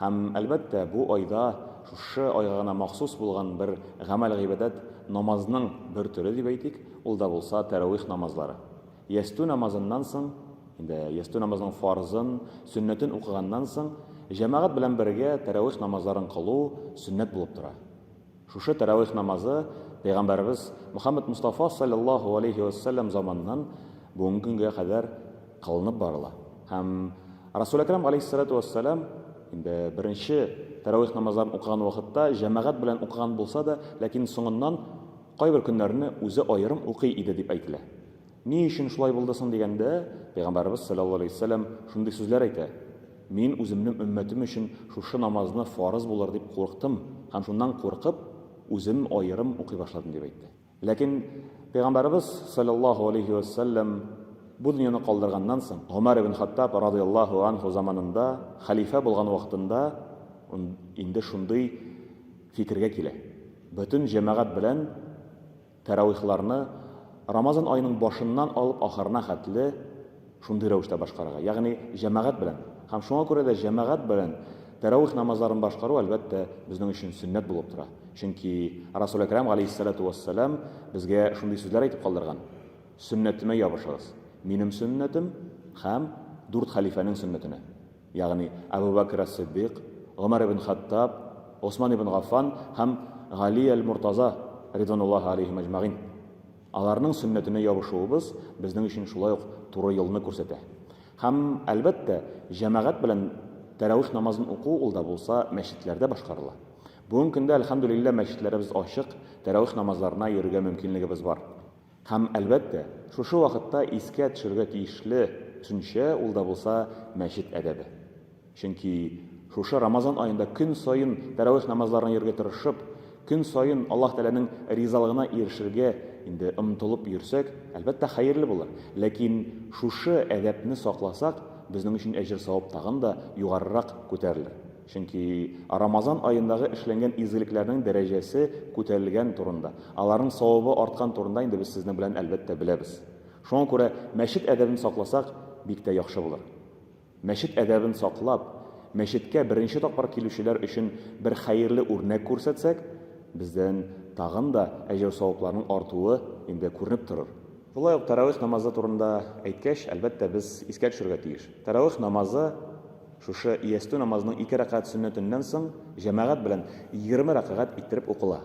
Һәм, әлбәттә, бу айда шушы айга гына махсус булган бер гамәл-гыйбадәт, намазның бер төре дип әйтик, ул да булса тәравих намазлары. Ястү намазыннан соң, инде ястү намазының фарзын, сөннәтен укыганнан соң, җәмәгать белән бергә тәравих намазларын кылу сөннәт булып тора. Шушы тәравих намазы пәйгамбәребез Мөхәммәд Мостафа салләллаһу галәйһи вә сәлләм заманыннан бүгенге көнгә кадәр кылынып барыла. Һәм Расул Әкрәм галәйһиссәләтү вә сәлам инде беренче тәравих намазларын укыган вакытта җәмәгать белән укыган булса да, ләкин соңыннан кайбер көннәрне үзе аерым укый иде дип әйтелә. Ни өчен шулай булды соң дигәндә, Пәйгамбәребез салләллаһу аләйһи вә сәлләм шундый сүзләр әйтә, Мин үземнең өммәтем өчен шушы намазны фарыз булыр дип курыктым һәм шуннан куркып, үзем аерым укый башладым, дип әйтте. Ләкин Пәйгамбәребез салләллаһу аләйһи вә сәлләм бу дөньяны калдырганнан соң, Гомәр ибн Хаттаб радыйяллаһу анһу заманында, хәлифә булган вакытында ун инде шундый фикергә килә, бөтен җәмәгать белән Тәравихларны Рамазан аеның башыннан алып ахырына хәтле шундый рәвештә башкарырга, ягъни җәмәгать белән. Һәм шуңа күрә дә җәмәгать белән тәравих намазларын башкару, әлбәттә, безнең өчен сөннәт булып тора. Чөнки Расул Әкрам галәйһиссәлату вәссәлам безгә шундый сүзләр әйтеп калдырган, Сөннәтемә ябышыгыз, минем сөннәтем һәм дүрт хәлифәнең сөннәтенә. ягъни Әбү Бәкер әс-Сыйддыйк, Гомәр ибн Хаттаб, Госман ибн Гаффан һәм Гали әл-Муртаза, ридвануллаһи алейһим әҗмәгыйн. Аларның сөннәтенә ябышуыбыз безнең өчен шулай ук туры юлны күрсәтә. Һәм, әлбәттә, җәмәгать белән тәравих намазын уку ул да булса мәчетләрдә башкарыла. Бүгенге көндә, әлхәмдүлилләһ, мәчетләребез ачык, тәравих намазларына йөрергә мөмкинлегебез бар. Һәм, әлбәттә, шушы вакытта искә төшерергә тиешле төшенчә ул да булса мәчет әдәбе. Чөнки шушы Рамазан аенда көн саен тәравих намазларына йөрергә тырышып, көн саен Аллаһ Тәгаләнең ризалыгына ирешергә инде омтылып йөрсәк, әлбәттә, хәерле булыр. Ләкин шушы әдәпне сакласак, безнең өчен әҗер-савап тагын да югарырак күтәрелер. Чөнки Рамазан аендагы эшләнгән изгелекләрнең дәрәҗәсе күтәрелгән турында, аларның савабы арткан турында инде без сезнең белән, әлбәттә, беләбез. Шуңа күрә мәчет әдәбен сакласак, бик тә яхшы булыр. Мәчет әдәбен саклап, мәчеткә беренче тапкыр килүчеләр өчен бер хәерле үрнәк күрсәтсәк, бездән тагын да әҗер-савапларның артуы инде күренеп торыр. Шулай ук тәравих намазы турында әйткәч, әлбәттә, без искә төшерергә тиеш, тәравих намазы, Шушы ястү намазының ике рәкәгать сөннәтеннән соң җәмәгать белән егерме рәкәгать иттереп укыла.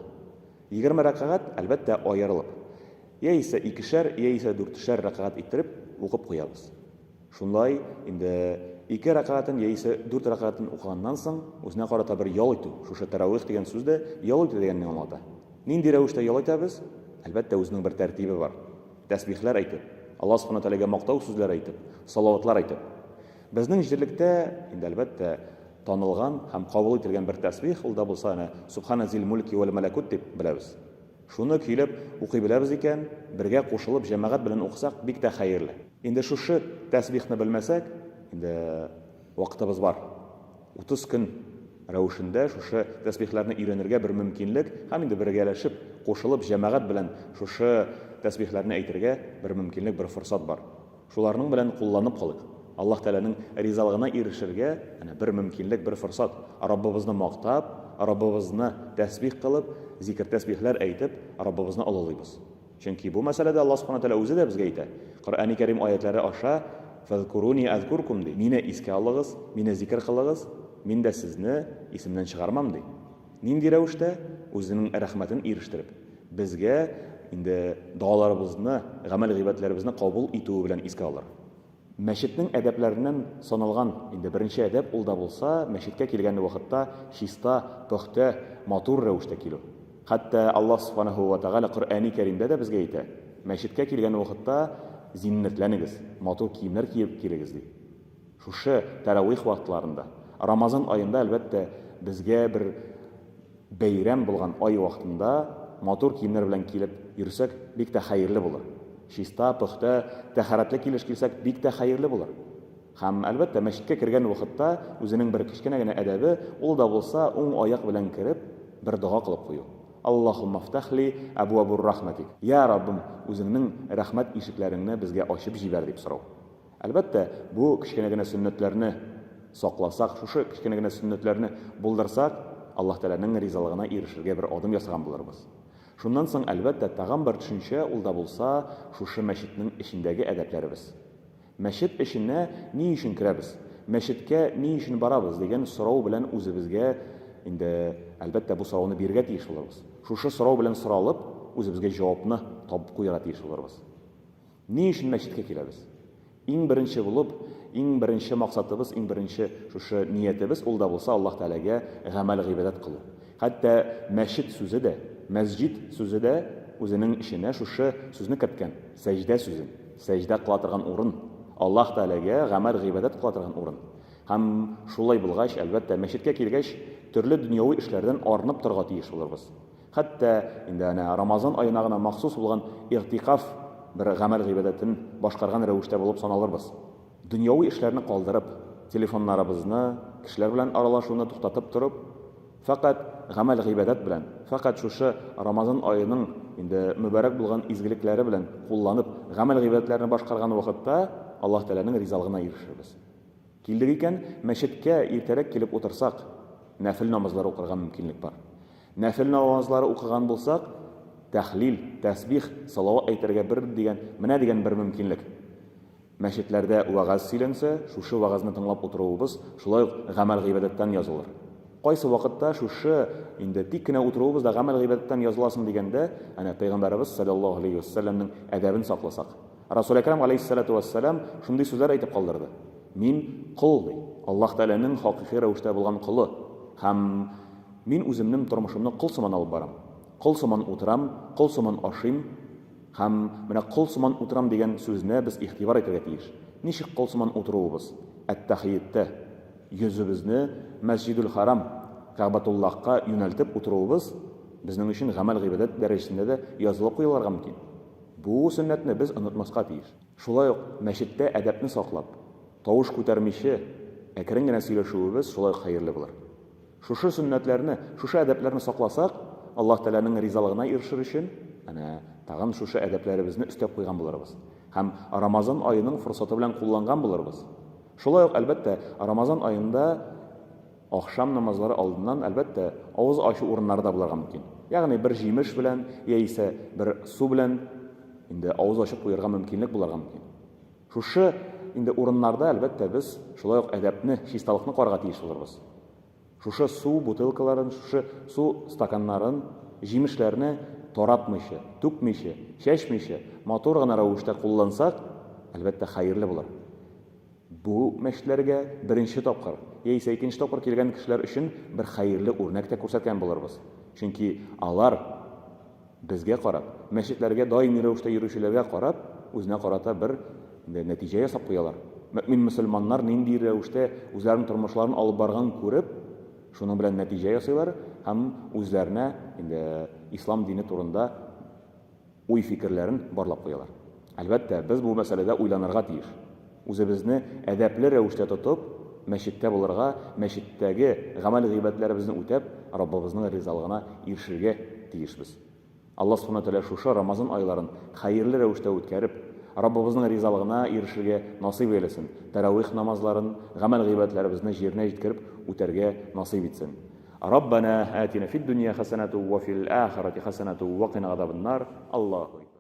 Егерме рәкәгать, әлбәттә, аерылып. Яисә икешәр, яисә дүртешәр рәкәгать иттереп укып куябыз. Шунлай инде ике рәкәгатен яисә дүрт рәкәгатен укыганнан соң, үзенә карата бер ял итү, шушы тәравих дигән сүз дә ял итү дигәнне аңлата. Нинди рәвештә ял итәбез? Әлбәттә, үзенең бер тәртибе бар. Тәсбихләр әйтеп, Алла Субхана Тәгаләгә мактау сүзләре әйтеп, салаватлар әйтеп. Безнең җирлектә, инде әлбәттә, танылган һәм кабул ителгән бер тәсбих, ул да булса әнә Субхана зил мульки вәл мәләкүт дип беләбез. Шуны көйләп укый беләбез икән, бергә кушылып җәмәгать белән укысак, бик тә хәерле. Инде шушы тәсбихны белмәсәк, инде вакытыбыз бар. Утыз көн рәвешендә шушы тәсбихләрне өйрәнергә бер мөмкинлек һәм инде бергәләшеп, кушылып җәмәгать белән шушы тәсбихләрне әйтергә бер мөмкинлек, бер форсат бар. Шуларның белән кулланып калыйк. Аллаһ Тәгаләнең ризалыгына ирешергә әнә бер мөмкинлек, бер форсат. Раббыбызны мактап, Раббыбызны тәсбих кылып, зикер-тәсбихләр әйтеп, Раббыбызны олылыйбыз. Чөнки бу мәсьәләдә Аллаһ Субхана Тәгалә үзе дә безгә әйтә, Коръәни Кәрим аятьләре аша, Фәзкуруни әзкуркум, ди, Мине искә алыгыз, Мине зикер кылыгыз, Мин дә сезне исемнән чыгармам, ди. Нинди рәвештә? Үзенең рәхмәтен ирештереп, безгә инде догаларыбызны, гамәл-гыйбадәтләребезне кабул итүе белән искә алыр. Мәчетнең әдәпләреннән саналган инде беренче әдәп ул да булса, мәчеткә килгән вакытта чиста, пөхтә, матур рәвештә килү. Хәтта Аллаһ Субханаһу вә Тәгалә Коръәни Кәримдә дә безгә әйтә, Мәчеткә килгән вакытта зиннәтләнегез, матур киемнәр киеп килегез, ди. Шушы тәравих вакытларында, Рамазан аенда, әлбәттә, безгә бер бәйрәм булган ай вакытында матур киемнәр белән килеп йөрсәк, бик тә хәерле булыр. Чиста, пөхтә, тәһарәтле килеш килсәк, бик тә хәерле булыр. Һәм, әлбәттә, мәчеткә кергән вакытта үзенең бер кечкенә генә әдәбе, ул да булса, уң аяк белән кереп, бер дога кылып кую. Аллаһумма фтәх ли әбуабур рахмәтик, Йә, Раббым, үзеңнең рәхмәт ишекләреңне безгә ачып җибәр, дип сорау. Әлбәттә, бу кечкенә генә сөннәтләрне сакласак, шушы кечкенә генә сөннәтләрне булдырсак, Аллаһ Тәгаләнең ризалыгына ирешергә бер адым ясаган булырбыз. Шуннан соң, әлбәттә, тагын бер төшенчә, ул да булса, шушы мәчетнең эчендәге әдәпләребез. Мәчет эченә ни өчен керәбез, мәчеткә ни өчен барабыз дигән сорау белән үзебезгә инде, әлбәттә, бу сорауны бирергә тиеш булырбыз. Шушы сорау белән соралып, үзебезгә җавапны табып куярга тиеш булырбыз. Ни өчен мәчеткә киләбез? Иң беренче булып, иң беренче максатыбыз, иң беренче шушы ниятебез ул да булса Аллаһ Тәгаләгә гамәл-гыйбадәт кылу. Хәтта мәчет сүзе дә, мәсҗид сүзе дә үзенең эченә шушы сүзне керткән, сәҗдә сүзен. Сәҗдә кыла торган урын, Аллаһ Тәгаләгә гамәл-гыйбадәт кыла торган урын. Һәм шулай булгач, әлбәттә, мәчеткә килгәч, төрле дөньяви эшләрдән арынып торырга тиеш булырбыз. Хәтта инде әнә Рамазан аена гына махсус булган Игътикаф бер гамәл-гыйбадәтен башкарган рәвештә булып саналырбыз. Дөньяви эшләрне калдырып, телефоннарыбызны, кешеләр белән аралашуны туктатып торып, фәкать гамәл-гыйбадәт белән, фәкать шушы Рамазан аеның инде мөбарәк булган изгелекләре белән кулланып, гамәл-гыйбадәтләрне башкарган вакытта Аллаһ Тәгаләнең ризалыгына ирешербез. Килдек икән, мәчеткә иртәрәк килеп утырсак, нәфел намазлар укырга мөмкинлек бар. Нәфел намазлары укыган булсак, тәхлил, тәсбих, салават әйтергә бер дигән, менә дигән бер мөмкинлек. Мәчетләрдә вәгазь сөйләнсә, шушы вәгазьне тыңлап утыруыбыз шулай ук гамәл-гыйбадәттән язылыр. Кайсы вакытта шушы инде тик кенә утыруыбыз да гамәл-гыйбадәттән языла соң дигәндә, әнә Пәйгамбәребез салләллаһу галәйһи вә сәлләмнең әдәбен сакласак. Расул Әкрәм галәйһиссәлату вә сәлам шундый сүзләр әйтеп калдырды, Мин, кол, ди, Аллаһ Тәгаләнең хакыйкый рәвештә булган колы һәм Мин үземнең тормышымны кол сыман алып барам. Кол сыман утырам, кол сыман ашыйм. Һәм менә кол сыман утырам дигән сүзне без игътибар итәргә тиеш. Ничек кол сыман утыруыбыз? Әттәхиеттә. Йөзебезне Мәсҗидүл-Хәрам, Кәгъбәтуллаһка юнәлтеп утыруыбыз безнең өчен гамәл-гыйбадәт дәрәҗәсендә дә язылып куяларга мөмкин. Бу сөннәтне без онытмаска тиеш. Шулай ук мәчеттә әдәпне саклап, тавыш күтәрмичә, әкрен генә сөйләшүебез шулай ук хәерле булыр. Шушы сөннәтләрне, шушы әдәпләрне сакласак, Аллаһ Тәгаләнең ризалыгына ирешер өчен, әнә, тагын шушы әдәпләребезне өстәп куйган булырбыз һәм Рамазан аеның форсаты белән кулланган булырбыз. Шулай ук, әлбәттә, Рамазан аенда ахшам намазлары алдыннан, әлбәттә, авыз ачу урыннары да булырга мөмкин. Ягъни бер җимеш белән яисә бер су белән инде авыз ачып куярга мөмкинлек булырга мөмкин. Шушы инде урыннарда, әлбәттә, без шулай ук әдәпне, чисталыкны карарга тиеш булырбыз. Шушы су бутылкаларын, шушы су стаканнарын, җимешләрне таратмыйча, түкмичә, чәчмичә, матур гына рәвештә куллансак, әлбәттә, хәерле булыр. Бу мәчетләргә беренче тапкыр яисә икенче тапкыр килгән кешеләр өчен бер хәерле үрнәк тә күрсәткән булырбыз. Чөнки алар. Безгә карап, мәчетләргә даими рәвештә йөрүчеләргә карап, үзенә карата бер нәтиҗә ясап куялар. Мөэмин мөселманнар нинди рәвештә үзләренең тормышларын алып барганын күреп, шуның белән нәтиҗә ясыйлар һәм үзләренә инде ислам дине турында уй-фикерләрен барлап куялар. Әлбәттә, без бу мәсьәләдә уйланырга тиеш. Үзебезне әдәпле рәвештә тотып, мәчеттә булырга, мәчеттәге гамәл-гыйбадәтләребезне үтәп, Раббыбызның ризалыгына ирешергә тиешбез. Алла Субхана ва Тәгалә шушы Рамазан айларын хәерле рәвештә үткәреп, Раббыбызның ризалыгына ирешергә насыйп әйләсен, тәравих намазларын, гамәл-гыйбадәтләребезне җиренә җиткереп үтәргә насыйп итсен. Раббана, атина фид-дөнья хәсәнәту ва фил ахирати хәсәнәту ва кина газабан-нар. Аллаһу.